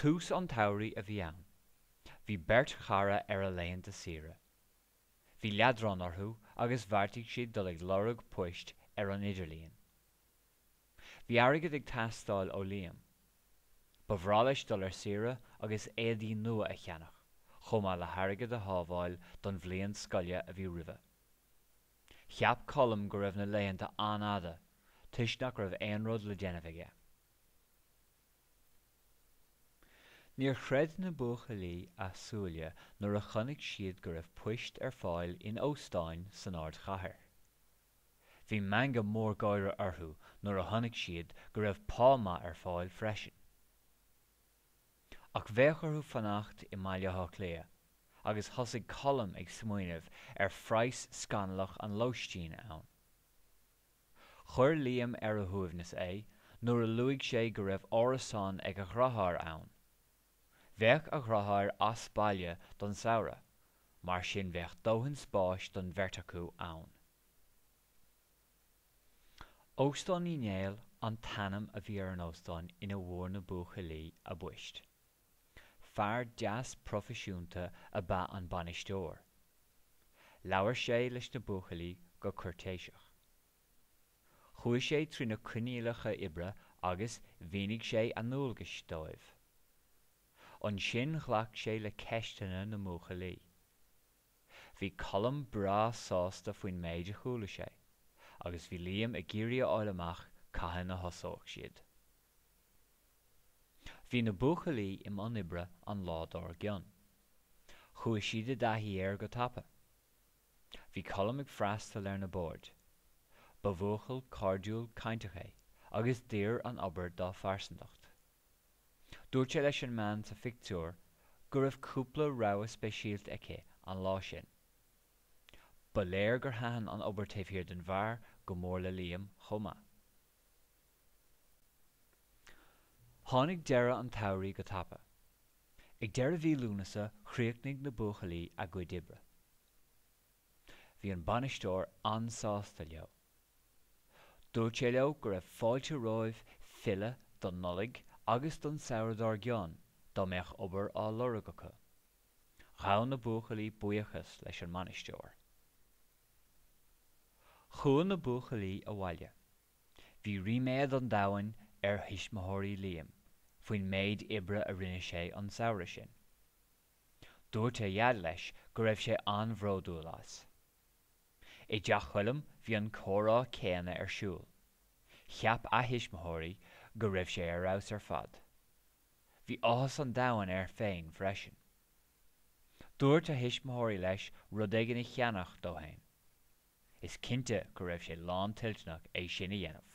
Tús an tsamhraidh a bhí ann. Bhí beirt chara ar a laethanta saoire. Bhí leadrán orthu agus bheartaigh siad dul ag lorg poist ar an idirlíon. Bhí airgead ag teastáil ó Liam. Ba bhreá leis dul ar saoire agus éadaí nua a cheannach, chomh maith le hairgead a shábháil don bhliain scoile a bhí roimhe. Cheap Colm go raibh na laethanta an-fhada, toisc nach raibh aon rud le déanamh aige. Níor chreid na buachaillí a súile nuair a chonaic siad go raibh poist ar fáil in óstáin san ardchathair. Bhí meangadh mór gáire orthu nuair a chonaic siad go raibh pá maith ar fáil freisin. Ach bheadh orthu fanacht i mBaile Átha Cliath agus thosaigh Colm ag smaoineamh ar phraghas scannalach an lóistín ann. Chuir Liam ar a shuaimhneas é nuair a luaigh sé go raibh árasán ag a dheartháir ann. Bheadh a dheartháir as baile don samhradh, mar sin bheadh dóthain spáis don bheirt acu ann. Óstán Uí Néill an t-ainm a bhí ar an óstán ina bhfuair na buachaillí a bpoist. Fear deas proifisiúnta ab ea an bainisteoir. Labhair sé leis na buachaillí go cúirtéiseach. Chuaigh sé trí na coinníollacha oibre agus mhínigh sé a ndualgais dóibh. Ansin ghlac sé le ceisteanna na mbuachaillí. Bhí Colm breá sásta faoin méid a chuala sé agus bhí Liam ag iarraidh a fháil amach cathain a thosódh siad. Bhí na buachaillí i mbun oibre an lá dár gcionn. Chuaigh siad i dtaithí air go tapa. Bhí Colm ag freastal ar na boird. Ba bhuachaill cairdiúil cainteach é agus d'oir an obair dá phearsantacht. Dúirt sé leis an mbean sa phictiúr go raibh cúpla rogha speisialta aici an lá sin. Ba léir gur thaitin an obair taobh thiar den bheár go mór le Liam chomh maith. Tháinig deireadh an tsamhraidh go tapa. Ag deireadh mhí Lúnasa chríochnaigh na buachaillí a gcuid oibre. Bhí an bainisteoir an-sásta leo. Dúirt sé leo go raibh fáilte romhaibh filleadh don Nollaig agus don samhradh dár gcionn dá mbeadh obair á lorg acu. Ghabh na buachaillí buíochas leis an mbainisteoir. Chuaigh na buachaillí abhaile. Bhí ríméad an domhain ar thuismitheoirí Liam faoin méid oibre a rinne sé an samhradh sin. Dúirt a dhaid leis go raibh sé an-bhródúil as. I dteach Choilm bhí an comhrá céanna ar siúl. Cheap a thuismitheoirí go raibh sé ar fheabhas ar fad. Bhí áthas an domhain air féin freisin. Dúirt a thuismitheoirí leis rud éigin a cheannach dó féin. Is cinnte go raibh sé lántoilteanach é sin a dhéanamh.